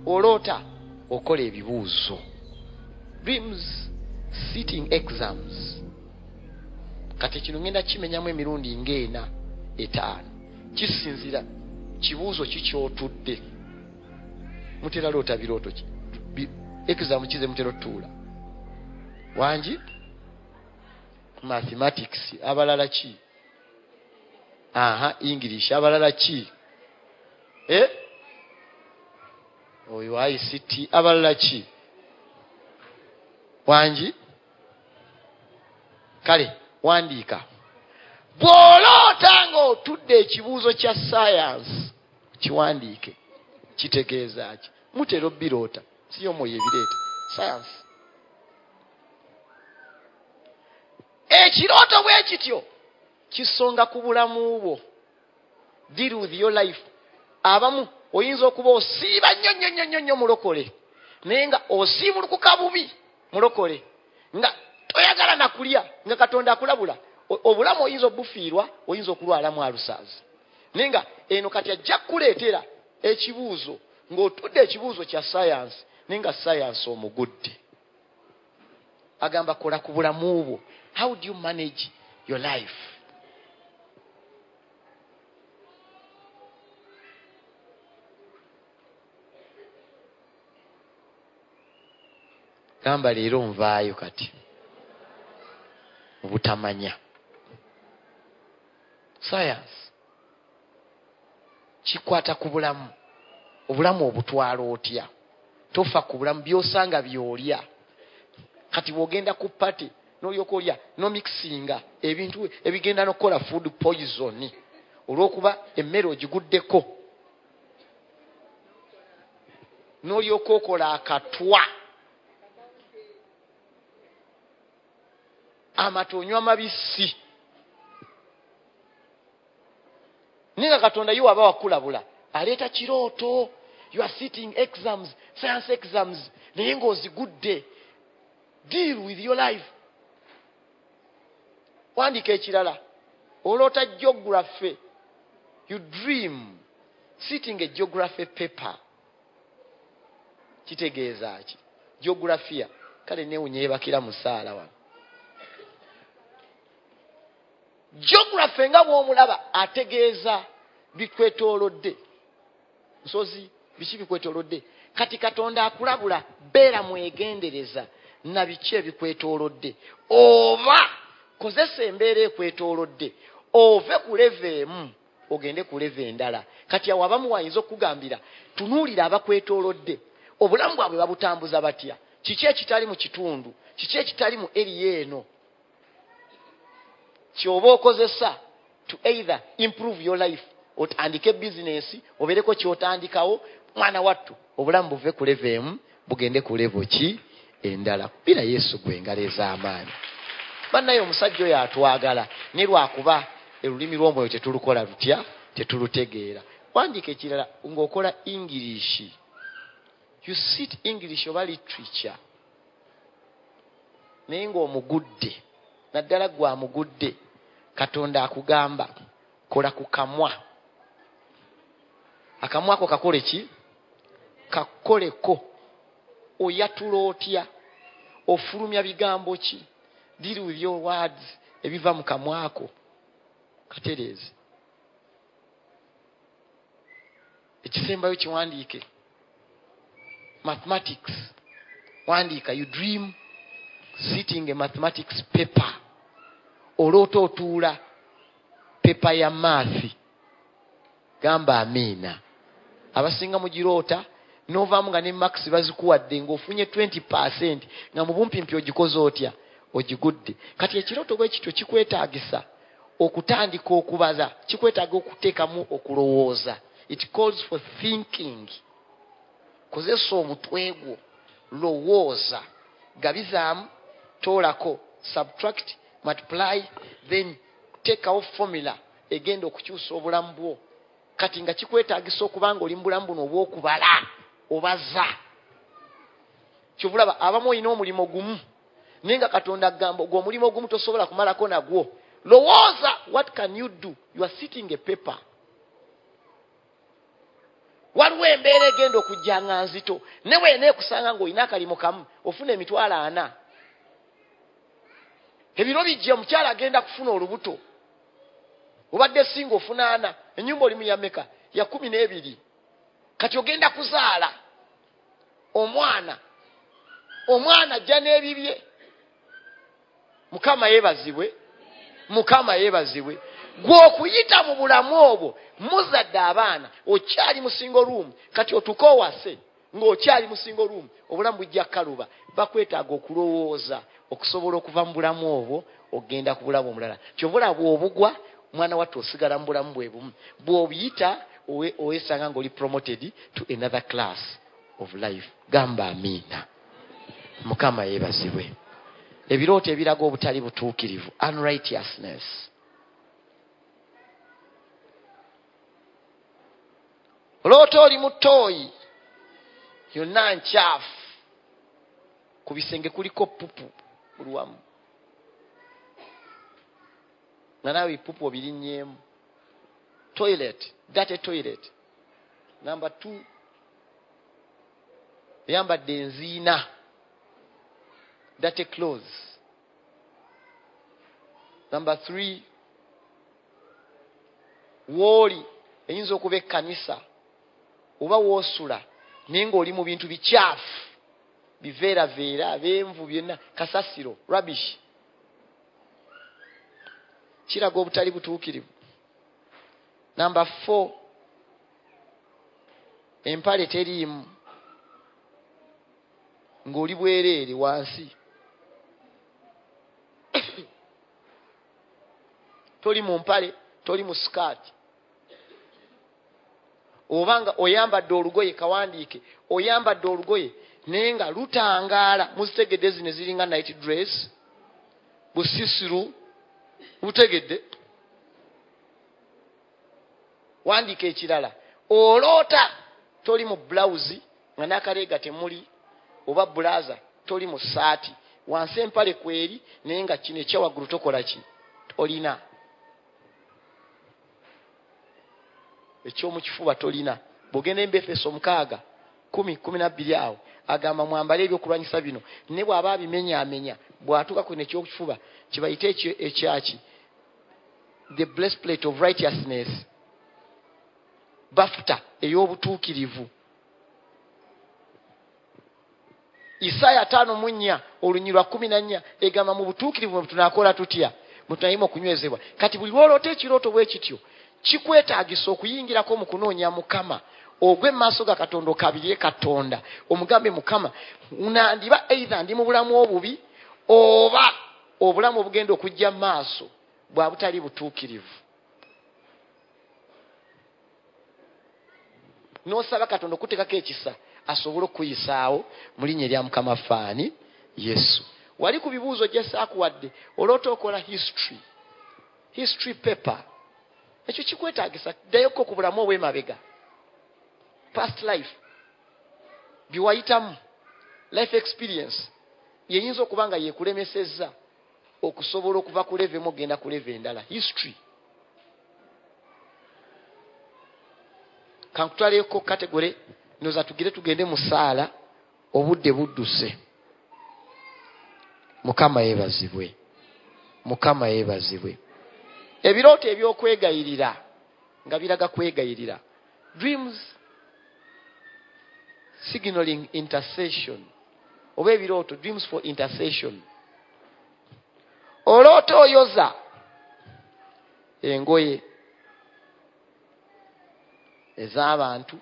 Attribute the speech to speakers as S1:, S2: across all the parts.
S1: oloota okola ebibuuzo dreams sitting exams kati kino ngenda kimenyamu emirundi ngaena etaano kisinzira kibuuzo kikyotudde mutera loota birooto ki exam kize mutera otuula wangi mathematics abalala ki aha english abalala ki eh? oyo ict abalala ki wangi kale wandiika bw'oloota nga otudde ekibuuzo kya sayansi kiwandiike kitegeeza ki mutera obbiroota siyo mwoyo ebireeta sayansi ekirooto bwe kityo kisonga ku bulamu bwo deal with your life abamu oyinza okuba osiiba nnyo nnyo nnyo nnyo nnyo mulokole naye nga osiibulukuka bubi mulokole nga toyagala nakulya nga katonda akulabula obulamu oyinza obufiirwa oyinza okulwalamu alusaazi naye nga eno kati ajja kukuleetera ekibuuzo ng'otudde ekibuuzo kya sayansi naye nga sayansi omugudde agamba kola ku bulamu bwo how do you manage your life gamba leero nvaayo kati obutamanya sayansi kikwata ku bulamu obulamu obutwala otya tofa ku bulamu byosanga byolya kati bwogenda ku pate nolyoka olya nomikisinga ebintu ebigenda nokukola food poison olwokuba emmere ogiguddeko nolyoka okola akatwa amata onywa mabisi naye nga katonda ye waba wakulabula aleeta kirooto you are sitting exams science exams naye ng'ozigudde deal with your life wandika ekirala oloota geography you dream sitting a geography paper kitegeeza ki geografiya kale newunya yebakira musaala wano geography nga bwomulaba ategeeza bikwetolodde nsozi biki bikwetolodde kati katonda akulabula beera mwegendereza na biki ebikwetolodde oba kozesa embeera ekwetolodde ove ku leva emu ogende ku leve endala kati awo abamu wayinza okukugambira tunuulira abakwetoolodde obulamu bwabwe babutambuza batya kiki ekitali mu kitundu kiki ekitali mu eriya eno kyoba okozesa to either improve your life otandike bizinesi obeereko kyotandikawo mwana wattu obulamu buve ku leve emu bugende ku levo ki endala kubira yesu gwe engalo ez'amaanyi bannaye omusajja oyo atwagala ne lwakuba olulimi lw'omwoyo tetulukola lutya tetulutegeera wandiika ekirala ng'okola ingirishi you sit english oba literature naye ng'omugudde naddala gwe amugudde katonda akugamba kola ku kamwa akamwa ako kakole ki kakoleko oyatula otya ofulumya bigambo ki deal with your words ebiva mu kamwa ako katereeze ekisembayo kiwandiike mathematics wandiika you dream sitting a mathematics paper oloota otuula pepa ya maathi gamba amiina abasinga mugiroota novaamu nga ne max bazikuwadde ngaofunye 20 percent nga mubumpimpi ogikoze otya ogigudde kati ekirooto bwekityo kikwetagisa Okutandika okubaza kikwetaaga okuteekamu okulowooza. It calls for thinking. Kozesa omutwe gwo, lowooza, gabizaamu, toolako, subtract, multiply, then teekawo formula egenda okukyusa obulamu bwo. Kati nga kikwetaagisa okuba nga oli mu bulamu buno obw'okubala, obaza. Kyova olaba abamu olina omulimu gumu. naye nga katonda agamba ogwo omulimu ogumu tosobola kumalako nagwo lowooza what can you do you are sitting a paper waliwo embeera egenda okujja nga nzito ne wena ekusanga ngaolina akalimu kamu ofuna emitwalo ana ebiro bijja omukyala agenda kufuna olubuto obadde singa ofuna ana enyumba olimu yameka ya kumi n'ebiri kati ogenda kuzaala omwana omwana ajja n'ebibye mukama yebazibwe mukama yebazibwe gwokuyita mu bulamu obwo muzadde abaana okyali musingo ruumu kati otuka owase ng'okyali musingo ruumu obulamu bujja kukaluba bakwetaaga okulowooza okusobola okuva mu bulamu obwo ogenda kubulamu omulala kyova olaba bwobugwa mwana wattu osigala mu bulamu bwebumu bwobiyita owesanga ngaoli promoted to another class of life gamba amiina mukama yebazibwe ebirooto ebiraga obutali butuukirivu unrighteousness oloota oli mutooyi yonna nkyafu ku bisenge kuliko pupu buli wamu nga naawe ebipupu obirinnyemu toilet date toilet namba t eyambadde enziina date close namba th wooli eyinza okuba ekkanisa oba woosula naye ng'oli mu bintu bikyafu biveeraveera beenvu byonna kasasiro rubbish kiraga obutali butuukirivu namba four empale teriimu ng'oli bwereere wansi toli mu mpale toli mu sikaati oba nga oyambadde olugoye kawandiike oyambadde olugoye naye nga lutangaala muzitegedde zino eziringa night dress busisiru butegedde wandiika ekirala oloota toli mu bulawuzi nga nakaleega temuli oba bulaza toli mu saati wansi empale kweri naye nga kino ekyawaggulu tokola ki olina ekyomukifuba tolina bwogenda embefeso omukaaga kumi kumi nabbiri awo agamba mwambale ebyokulwanyisa bino ne bwaba abimenyamenya bwatuuka kwino ekyokukifuba kibayite ekyaki the blessplate of righteousness bafuta ey'obutuukirivu isaaya ataano mu nnya olunyirwa lwa kumi na nnya egamba mu butuukirivu bwe tunaakola tutya bwe tunayima okunywezebwa kati buli lwoloota ekirooto bwe kityo kikwetaagisa okuyingirako mu kunoonya mukama ogwe mu maaso ga katonda okabirire katonda omugambe mukama nandiba eitha ndi mu bulamu obubi oba obulamu obugenda okujja maaso bwa butali butuukirivu nosaba katonda okutekako ekisa asobole okukuyisaawo mu linnya erya mukama faani yesu wali ku bibuuzo gyesaakuwadde oloota okola history history paper ekyo kikwetagisa ddayoko ku bulamu obwemabega past life byewayitamu life experience yeyinza okuba nga yekulemesezza okusobola okuva ku leve emu okugenda ku leve endala history kankutwaleko kategore noza tugire tugende mu saala obudde budduse mukama yebazibwe mukama yebazibwe ebirooto ebyokwegayirira nga biraga kwegayirira dreams signaling intercession oba ebirooto dreams for intercession oloota oyoza engoye ez'abantu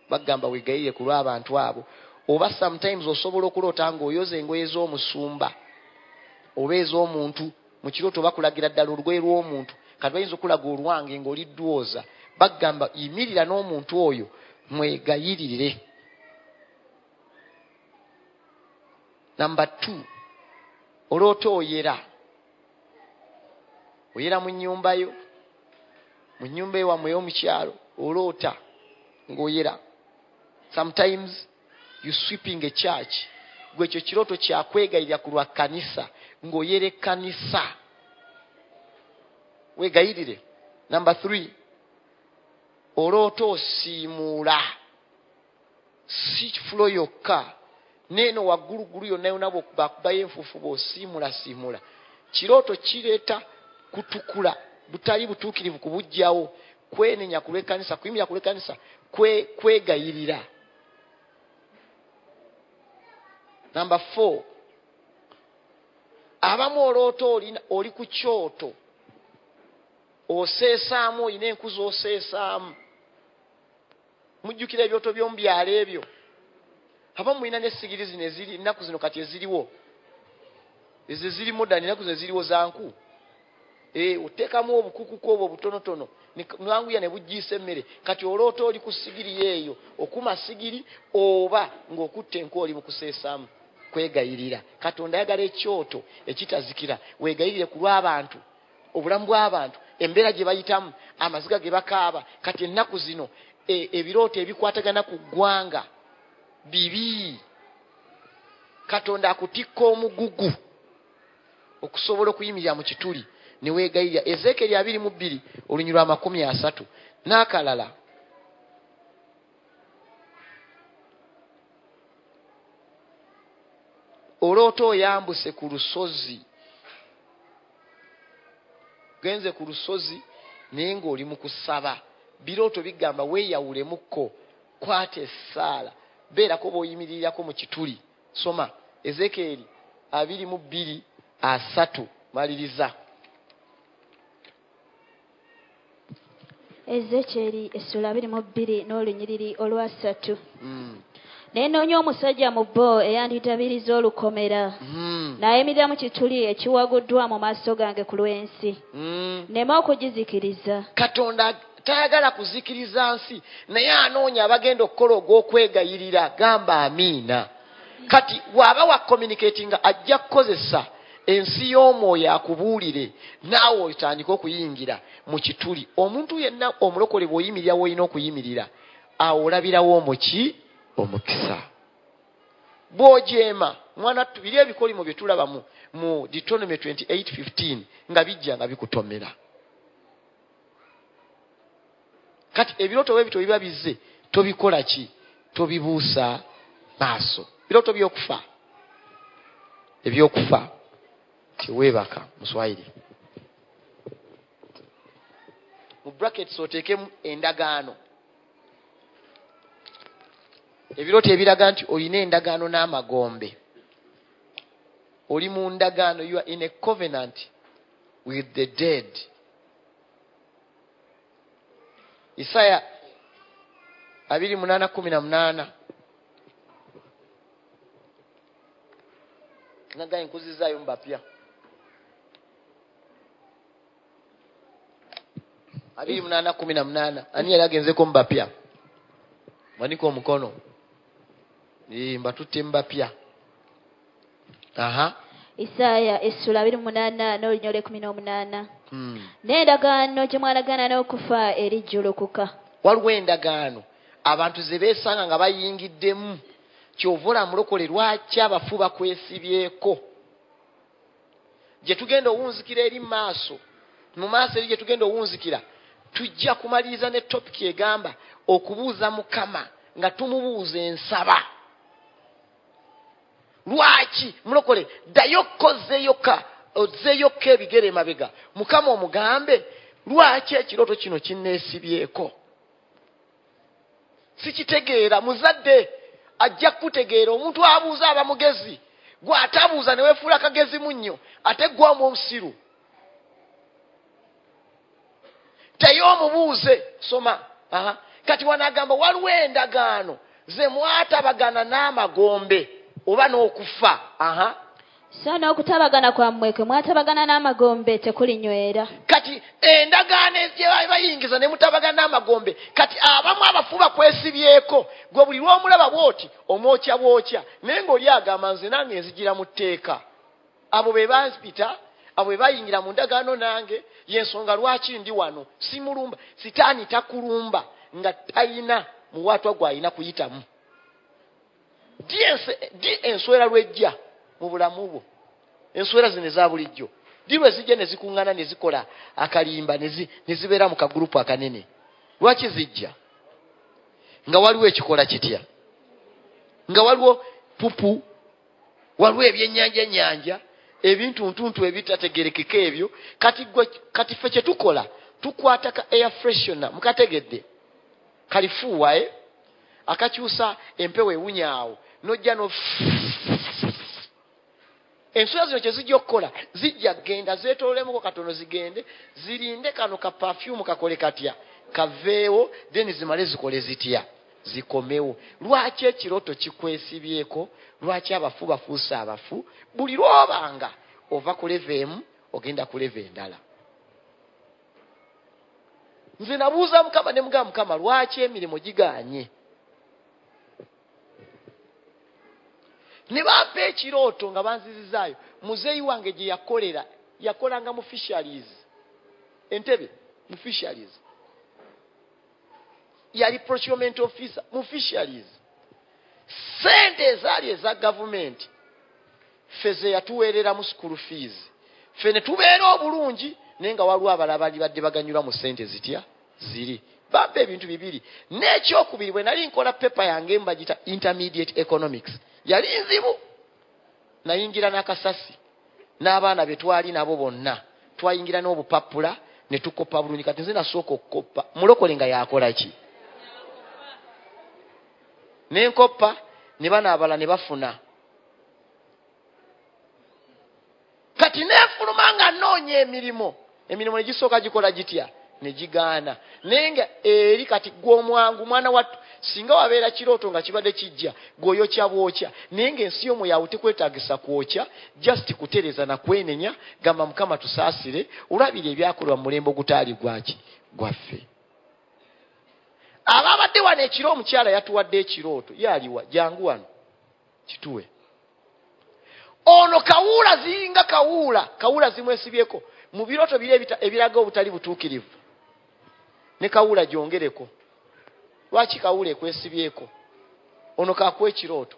S1: bagamba wegayirire ku lw'abantu abo oba sometimes osobola okuloota ng'oyoza engoye z'omusumba oba ez'omuntu mu kirooto bakulagira ddala olugoye lw'omuntu kati bayinza okulaga olwange ng'oli ddwooza bagamba yimirira n'omuntu oyo mwegayiririre namba t oloota oyera oyera mu nyumbayo mu nyumba ewamwe yomukyalo oloota ngaoyera sometimes you sweeping a church gwe ekyo kirooto kyakwegayirira ku lwa kanisa ngaoyera ekkanisa wegayirire number three oloota osiimuula Si fulo yokka, neeno wagguluggulu yonna yonna bw'okubakubayo enfuufu bw'osiimulasiimula. Kirooto kireeta kutukula, butali butuukirivu kubujjawo, kwenenya ku lw'ekkanisa, kuyimirira ku lw'ekkanisa, kwe, kwegayirira. Namba four, abamu oloota oli ku kyoto oseesaamu olina enku z'oseesaamu mujjukira ebyoto by'omu byalo ebyo abamu mulina n'essigiri zino eziri ennaku zino kati eziriwo ezo eziri modani ennaku zino eziriwo zanku eh, oteekamu obukukuku obwo obutonotono nwanguya ne bujjiisa emmere kati oloota oli ku sigiri yeeyo okuma sigiri oba ng'okutta enku oli mu kuseesaamu kwegayirira katonda ayagala ekyoto ekitazikira weegayirire ku lw'abantu obulamu bw'abantu embeera gye bayitamu amaziga ge bakaaba kati ennaku zino e, ebirooto ebikwatagana ku ggwanga bibi katonda akutikka omugugu okusobola okuyimirira mu kituli ne weegayirira ezeekeri abiri mu bbiri olunywi lwa makumi asatu n'akalala oloota oyambuse ku lusozi genze ku lusozi naye ng'oli mu kusaba birooto bigamba weeyawulemukko kwata essaala beerako b'oyimiririrako mu kituli soma ezekeeri abiri mu bbiri asatu maliriza
S2: Ezekyeri essula abiri mu bbiri n'olunyiriri olwasatu. Hmm. Ne nnoonya omusajja mu bo eyandidabiriza olukomera, hmm. n'ayimirira mu kituli ekiwaguddwa mu maaso gange ku lw'ensi, hmm. nneme okugizikiriza. Katonda
S1: tayagala kuzikiriza nsi, naye anoonya abagenda okukola ogw'okwegayirira. Gamba amiina. kati waaba wa communicati nga ajja kukozesa ensi y'omwoyo akubuulire naawe otandike okuyingira mu kituli omuntu yenna omulokole bw'oyimirira woolina okuyimirira awo olabirawo omuki omukisa bw'ojeema mwana ttu biri ebikolimo bye tulaba mu deuteronomy 28:15 nga bijja nga bikutomera kati ebirooto bwe bityo biba bizze tobikola ki tobibuusa maaso birooto byokufa ebyokufa teweebaka muswayiri mu brackets oteekemu endagaano ebirooto ebiraga nti olina endagaano n'amagombe oli mu ndagaano you are in a covenant with the dead isaya abiri munana kumi na munana nagaye nkuzizayo mubapya abiri munana kumi na munana ani yali agenzeko mubapya manika omukono Ee, mbatutte mu bapya aha
S2: isaaya essula abiri munaana n'olunya olwekumi n'omunaana Hmm. n'endagaano gye mwalagaana n'okufa erijjulukuka waliwo
S1: endagaano abantu ze beesanga nga bayingiddemu kyova olaba mulokole lwaki abafu bakwesibyeko gye tugenda owunzikira eri maaso mu maaso eri gye tugenda owunzikira tujja kumaliriza ne topiki egamba okubuuza mukama nga tumubuuza ensaba lwaki mulokole ddayo kkozeeyoka ozeeyokka ebigere emabega mukama omugambe lwaki ekirooto kino kinneesibyeko sikitegeera muzadde ajja kukutegeera omuntu abuuza aba mugezi gwe atabuuza ne wefuula kagezi munnyo ate gwamu omusiru teyo omubuuze soma aha kati wanagamba waliwo endagaano ze mwatabagana n'amagombe oba n'okufa aha
S2: So n'okutabagana kwammwe kwe mwatabagana n'amagombe tekulinywera. Kati endagaano
S1: gye baali bayingiza ne mutabagana n'amagombe, kati abamu abafu bakwesibyeko, gwe buli lw'omulaba bw'oti omwokya bwokya, naye ng'oli agamba nze nange nzijira mu tteeka. Abo be bampita, abo be bayingira mu ndagaano nange, y'ensonga lwaki ndi wano. Simulumba, sitaani takulumba nga talina muwaatwa gw'alina kuyitamu. di enswera lwejja mu bulamu bwo enswera zino eza bulijjo di lwe zijja ne zikuŋŋana ne zikola akalimba ne zibeera mu kagurupu akanene lwaki zijja nga waliwo ekikola kitya nga waliwo pupu waliwo ebyenyanja nyanja ebintu ntuntu ebitategerekeka ebyo kati fe kyetukola tukwata ka air freshona mukategedde kalifuuwa e akakyusa empewo ewunya awo nojja no ensula zino kyezijja okukola zijja kugenda zetololemuko katono zigende zirinde kano ka pafyumu kakole katya kaveewo then zimale zikole zitya zikomewo lwaki ekiroto kikwesibyeko lwaki abafu bafuuse abafu buli lwobanga ova kuleva emu ogenda kuleva endala nze nabuuza mukama ne mugamba mukama lwaki emirimu giganye ne bampa ekirooto nga banzizizaayo muzeeyi wange gye yakolera yakolanga mu fisheries entebe mu fisheries yali procurement officer mu fisheries sente ezaali eza gavumenti ffe zeyatuweereramu school fees ffe netubeera obulungi naye nga waliwo abala balibadde baganyulwa mu sente zitya ziri bampa ebintu bibiri n'ekyokubiri bwe nali nkola pepa yange mbagita intermediate economics yali nzibu nayingira n'akasasi n'abaana be twali nabo bonna twayingira n'obupappula ne tukoppa bulungi kati nze nasooka okukoppa mulokole nga yakola ki ne nkoppa ne bano abala ne bafuna kati nefuluma nga noonya emirimu emirimu negisooka gikola gitya negigaana naye nga eri kati gwe omwangu mwana wattu singa wabeera kirooto nga kibadde kijja gweoyokya bwokya naye nga ensi yomwe yawe tekwetagisa kwokya just kutereza nakwenenya gamba mukama tusaasire olwabiri ebyakolebwa mulembe ogutaali gwaki gwaffe ababadde wano ekiro omukyala yatuwadde ekirooto yaliwa jangu wano kituwe ono kawuula zinga kawuula kawuula zimwesibyeko mu birooto biri ebiraga obutali butuukirivu ne kawuula gyongereko lwaki kawuula ekwesibyeko ono kakuwa ekirooto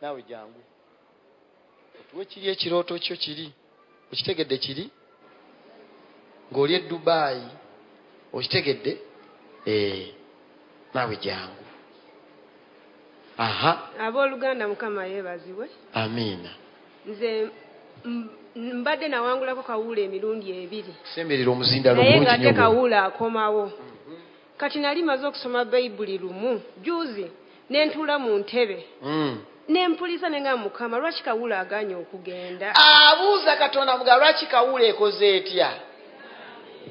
S1: naawe jangu otuwe kiri ekirooto kyo kiri okitegedde kiri ng'oli e dubaayi okitegedde eh, naawe jangu aha
S3: abooluganda mukama yeebazibwe amiina
S1: nze
S3: mbadde nawangulako kawuula emirundi ebiri naye
S1: ng'ate kawuula
S3: akomawo Kati nali maze okusoma baibuli lumu juzi nentuula mu ntebe nempuliriza nengamba mukama lwaki kawuula aganye okugenda. Abuuza katonda
S1: mugamba lwaki kawuula ekoze etya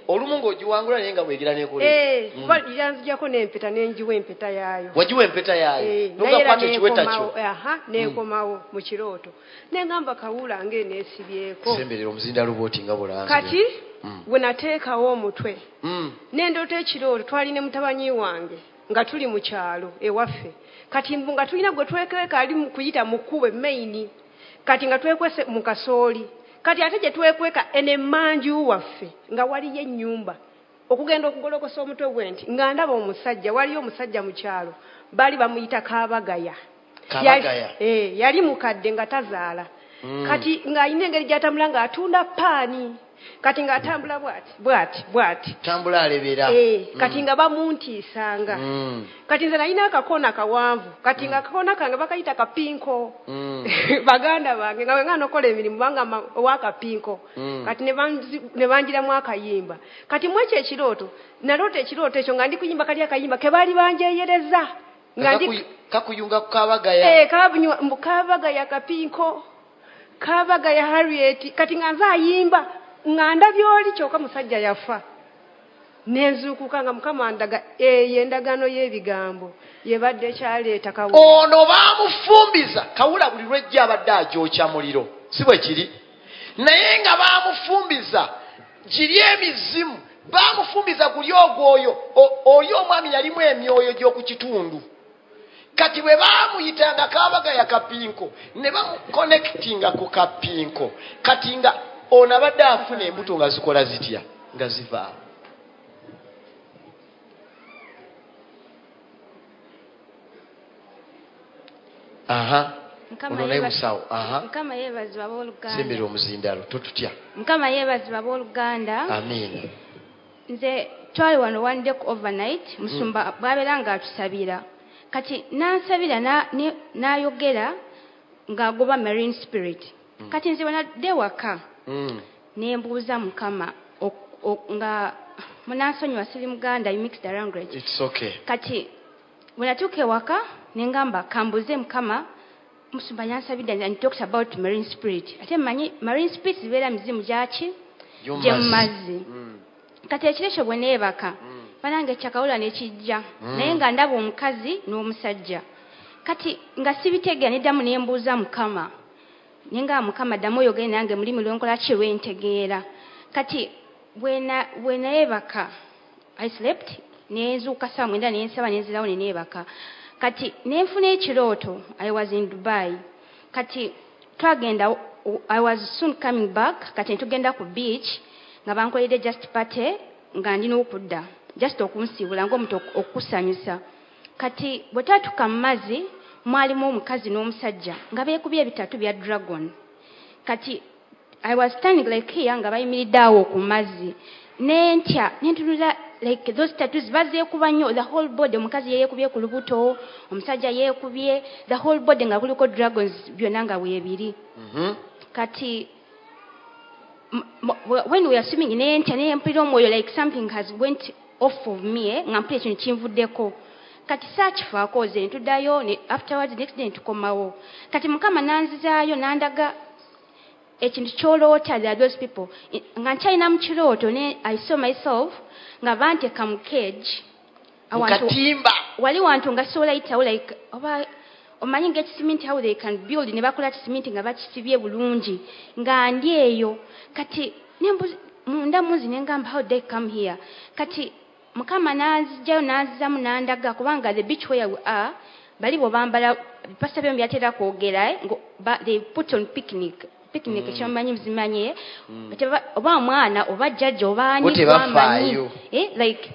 S1: olumu nga ogiwangula naye nga bwegera nekola etya. Eeh mm. kuba yanzijako
S3: nempeta nenjiwa empeta yaayo. Wajiwa empeta yaayo
S1: eh, nogakwata ekiweta kyo. Aha mm. nekomawo
S3: mu kirooto. nengamba kawuula nga enesibyeko semberera omuzindaalo
S1: bwoti nga bulanzi kati mm.
S3: wenateekawo omutwe mm. nendoota ekirooro twali ne mutabanyi wange nga tuli mu kyalo ewaffe kati mbu nga tulina gwe twekweka ali kuyita mu kkubo emaini kati nga twekwese mu kasooli kati ate gye twekweka ene manju waffe nga waliyo ennyumba okugenda okugolokosa omutwe gwe nti nga ndaba omusajja waliyo omusajja mu kyalo baali bamuyita kabagaya kabagaya eh, yali mukadde nga tazaala hmm. kati ng'alina engeri gy'atambula ng'atunda paani kati ng'atambula bwati bwati bwati tambula alebera
S1: eh, hmm. kati nga
S3: bamuntiisanga hmm. kati nze nalina akakoona kawanvu kati nga akakoona kange bakayita kapinko baganda bange nga wenga nokola emirimu banga owakapinko kati ne banjiramu akayimba kati mwekyo ekirooto naloota ekirooto ekyo nga ndi kuyimba kali akayimba ke baali banjeyereza nga ndi Kakuyu-
S1: kakuyunga ku kabagaya Eh, kabanywa- mbu kabaga
S3: ya kapinko kabaga ya harriet kati nga nze ayimba nga ndabye oli kyoka musajja yafa nenzuukuka nga mukama andaga eyo endagaano y'ebigambo yebadde ekyaleeta kawo ono
S1: baamufumbiza kawula buli lwejja abadde agyokya muliro si bwe kiri naye nga bamufumbiza giri emizimu bamufumbiza guli ogwoyo oli omwami yalimu emyoyo gyokukitundu kati bwe bamuyitanga kabaga yakapinko ne bamukonectinga ku kapinko kati nga ono abadde afuna embuto nga zikola zitya nga zivaamu
S2: aha ono naye musawo aha mukama yeebazibwa abooluganda sembera omuzindalo
S1: totutya mukama yeebazibwa
S2: abooluganda amiina
S1: nze
S2: twali wano one day ku overnight musumba mm. bwabeera nga atusabira kati nansabira nayogera na, na ng'agoba marine spirit mm. kati nze bwenadde waka mm. Nembuuza mukama ok ok nga munansonyiwa sili muganda you mix the language It's ok. Kati bwenatuuka ewaka nengamba kambuuze mukama musumba yansabidde and and talked about marine spirit ate manyi marine spirit zibeera mizimu gyaki Gy'omu gyemumazzi mazzi. Mm. Kati ekiro ekyo bweneebaka Mm. banange ekyakawula nekijja Mm. naye nga ndaba omukazi n'omusajja kati nga sibitegeera neddamu nembuuza mukama naye nga mukama ddamu oyogere nange mulimi lwenkola ki lwentegeera kati bwenayebaka i slept nenzuuka saa mwenda nensaba nenzirawo neneebaka kati nenfuna ekirooto i was in dubai kati twagenda i was soon coming back kati netugenda ku beach nga bankoledde just party nga ndi n'okudda just okunsiibula ngaomuntu okukusanyusa Kati bwe twatuuka mu mazzi mwalimu omukazi n'omusajja nga beekubye ebitatu bya dragon. Kati I was standing like here nga bayimiridde awo ku mazzi ne ntya ne ntunula like those tattoos bazeekuba nnyo the whole body omukazi yeyeekubye ku lubuto omusajja yeekubye the whole body nga kuliko dragons byonna nga weebiri mm -hmm. kati when we are swimming naye ntya naye mpulira omwoyo like something has went off of me eh? nga mpulira ekintu kinvuddeko kati saakifaako ze ntudayo afterwards next day ntukomawo kati mukama nanzizaayo nandaga ekintu kyoloota the those people nga nkyalina mu kirooto ne i saw myself nga banteka mu cage mukatimba
S1: wali wantu
S2: nga sobola yitawo like oba omanyi nga ekisiminti how they can build ne bakola kisiminti nga bakisibye bulungi nga ndi eyo kati nembuzi munda munzi nengamba how they come here kati mukama nanzijayo nanzizamu nandaga kubanga the beach where we are bali bobambala pasita byom byatera kwogera eh, they put on picnic picnic mm. kyomanyi mzimanyi mm. oba mwana oba jjajja oba anyiamanyi
S1: eh, like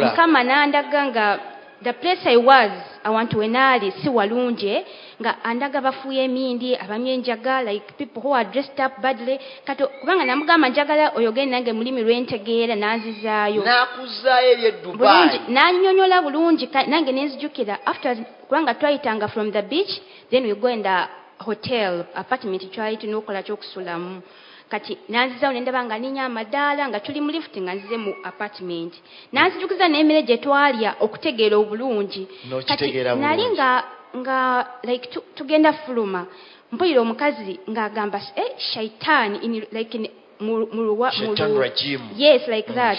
S2: mukama
S1: nandaga nga
S2: the place i was awantu wenaali si walungi eh, nga andaga bafuuya emindi abamye enjaga like people who are dressed up badly kati kubanga namugamba njagala oyogere nange mulimi lwentegeera nanzizaayo nakuzaayo
S1: ebyedubai nanyonyola bulungi
S2: nange nenzijukira after kubanga twayitanga from the beach then we go and uh, hotel apartment twali tulina okukola kyokusulamu kati nanzizawo nendaba nga ninya amadaala nga tuli mu lift nga nzize mu apartment nanzijukiza n'emere gye twalya okutegeera obulungi kati nali nga nga like tugenda fuluma mpulira omukazi ng'agamba eh, shaitaani like yes like mm, that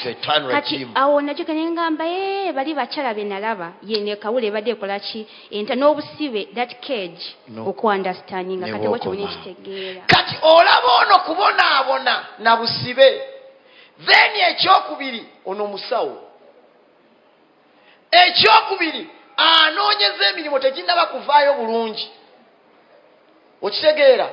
S2: kati awo nakyo kenengamba ee eh, bali bakyala benalaba yene kawula ebadde ekolaki enta n'obusibe that cage okuunderstandinga kati wakiwona ekitegeera kati olaba
S1: ono kubonaabona na busibe then ekyokubiri ono musawo Ekyokubiri, anoonyeza emirimu teginnaba kuvaayo bulungi. Okitegeera?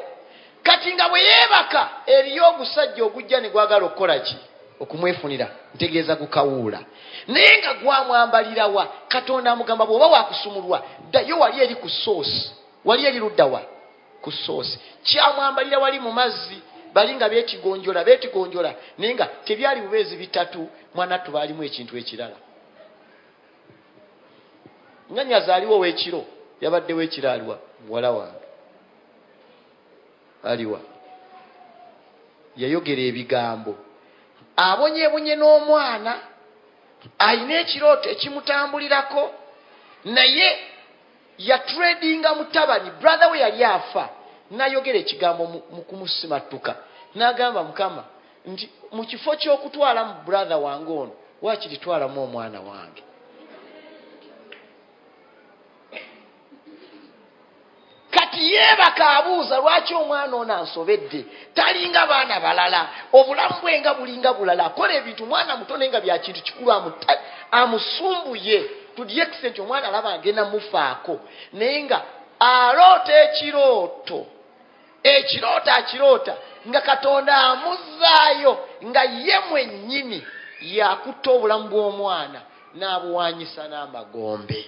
S1: Kati nga bwe yeebaka, eriyo ogusajja ogujja ne gwagala okukola ki? Okumwefunira, ntegeeza gukawuula. Naye nga gwamwambalira wa? Katonda amugamba, Bw'oba wa kusumululwa, ddayo wali eri ku source. Wali eri ludda wa? ku soosi kyamwambalira wali mu mazzi bali nga betigonjola betigonjola naye nga tebyali bubeezi bitatu mwanattu baalimu ekintu ekirala nga nyazi aliwo wekiro yabaddewo ekiro aliwa muwala wange aliwa yayogera ebigambo abonyebonye n'omwana alina ekirooto ekimutambulirako naye Ya tradinga mutabani brother we yali afa nayogera ekigambo mukumusimattuka nagamba mukama nti mukifo kyokutwala mu brother wange ono wakiritwalamu omwana wange kati yebaka abuuza lwaki omwana ono ansobedde talinga baana balala obulamu bwe nga bulinga bulala akola ebintu mwana muto naye nga byakintu kikulu amusumbuye to the extent omwana alaba agenda mufaako naye nga aloota ekirooto ekirooto akiroota nga katonda amuzzaayo nga ye mwennyini yakutta obulamu bw'omwana n'abuwanyisa n'amagombe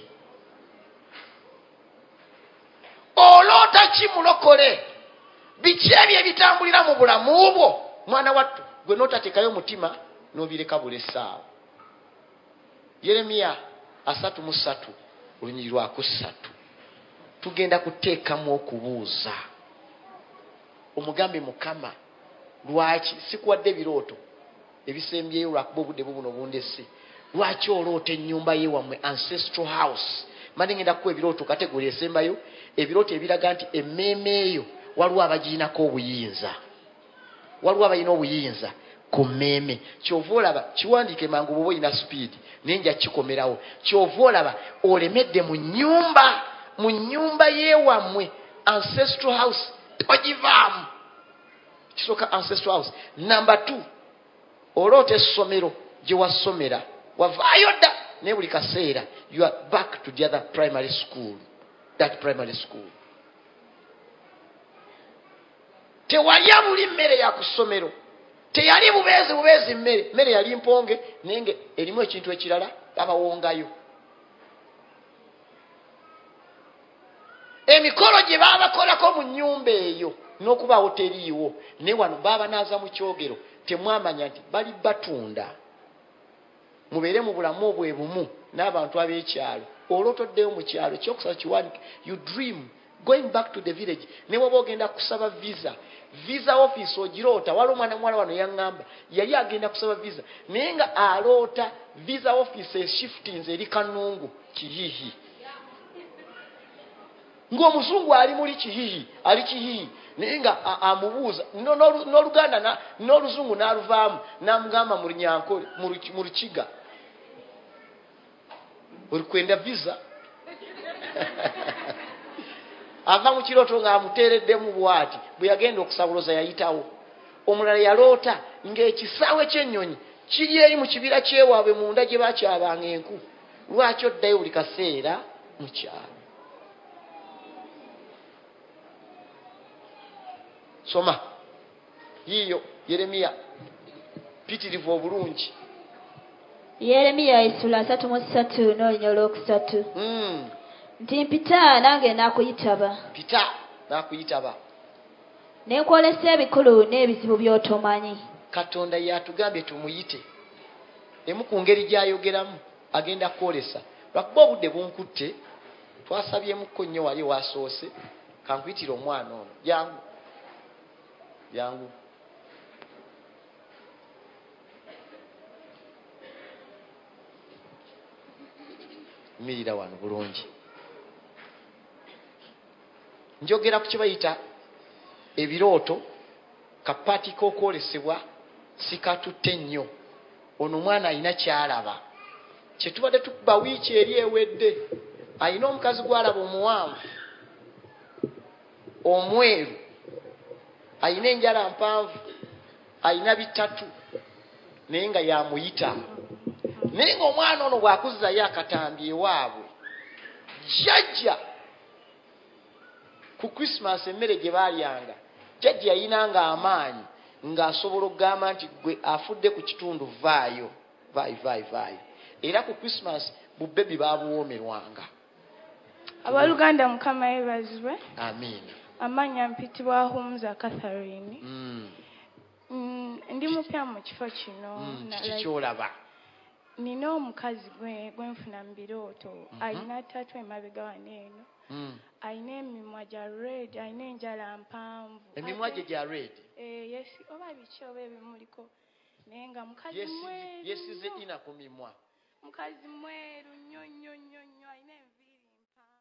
S1: oloota ki mulokole biki ebyo ebitambulira mu bulamu bwo mwana wattu gwe notatekayo omutima nobireka bula essaawa yeremiya asatu mu satu olunyiri lwakussatu tugenda kuteekamu okubuuza omugambe mukama lwaki sikuwadde ebirooto ebisembyeyo lwakuba obudde bubuno bundese lwaki oloota enyumba ye wamwe ancestral house mani ngenda kukuwa ebirooto kategori esembayo ebirooto ebiraga nti emmeeme eyo waliwo abagirinako obuyinza waliwo abalina obuyinza ku mmeeme kyova olaba kiwandiike mangu bwoba olina sipiidi naye nja kikomerawo kyova olaba olemedde mu nyumba mu nyumba yewammwe ancestral house togivaamu ekisooka ancestral house number two oloota essomero gye wasomera wavaayo dda naye buli kaseera you are back to the other primary school that primary school tewalya buli mmere ya ku ssomero teyali bubeezi bubeezi mmere mmere yali mponge naye nga erimu ekintu ekirala babawongayo emikolo gye baabakolako mu nnyumba eyo n'okubaawo teriiwo ne wano baabanaaza mu kyogero temwamanya nti bali batunda mubeere mu bulamu obwe bumu n'abantu ab'ekyalo olwotoddeyo mu kyalo kyokusaba kiwanike you dream going back to the village ne waba ogenda kusaba visa visa office ogiroota wali omwana muwala wano yaŋŋamba yali agenda kusaba visa naye nga aloota visa office eshiftinze eri kanungu kiyihi ng'omuzungu ali muli kihihi ali kihihi naye nga amubuuza n'oluganda n'oluzungu n'aluvaamu n'amugamba mu runyankole mu lukiga olikwenda visa ava mu kirooto ng'amuteereddemu bwati bwe yagenda okusabuluza yayitawo omulala yaloota ng'ekisaawe ky'ennyonyi kiri eri mu kibira kyewaabwe munda gye bakyabanga enku lwaki oddayo buli kaseera mu kyalo soma yiiyo yeremiya pitirivu obulungi
S2: yeremiya esula asatu mu ssatu n'olunya olwokusatu hmm. nti mpita nange nakuyitaba pita nakuyitaba ne nkwolesa ebikulu n'ebizibu by'otomanyi katonda
S1: yatugambye tumuyite Emu ku ngeri gy'ayogeramu agenda kwolesa. Lwakuba obudde bunkutte, twasabyemukko nnyo wali ewasoose, kankuyitire omwana ono. Jangu. Jangu. Yimirira wano bulungi. Njogera ku kye bayita ebirooto, kapaati k'okwolesebwa sikatutte nnyo. Ono omwana alina ky'alaba. Kye tubadde tukuba wiiki eri ewedde, alina omukazi gw'alaba omuwanvu, omweru, alina enjala mpanvu, alina bitatu naye nga yamuyita naye ngaomwana ono bwakuzzayo akatambi ewaabwe jjajja ku christmas emmere gye baalyanga jajja yalina nga amaanyi ng'asobola okugamba nti gwe afudde ku kitundu vaayo vaayo vaayo vaayo era ku christmas bubebi baabuwoomerwanga
S4: abaluganda mukama yebazibwe amiina
S1: amaanyi ampitibwa
S4: humza catharine mm. Mm, ndi mupya mu kifo kino mm, kikyolaba
S1: Nina
S4: omukazi gwe gwenfuna mu birooto mm -hmm. alina tatu emabega wano eno mm. alina emimwa gya red alina enjala mpanvu emimwa gye gya red
S1: eh, yes oba
S4: biki oba ebimuliko naye nga mukazi mweru yesize ina ku mimwa mukazi mweru nnyo
S1: nnyo
S4: nnyo nnyo alina enviiri mpanvu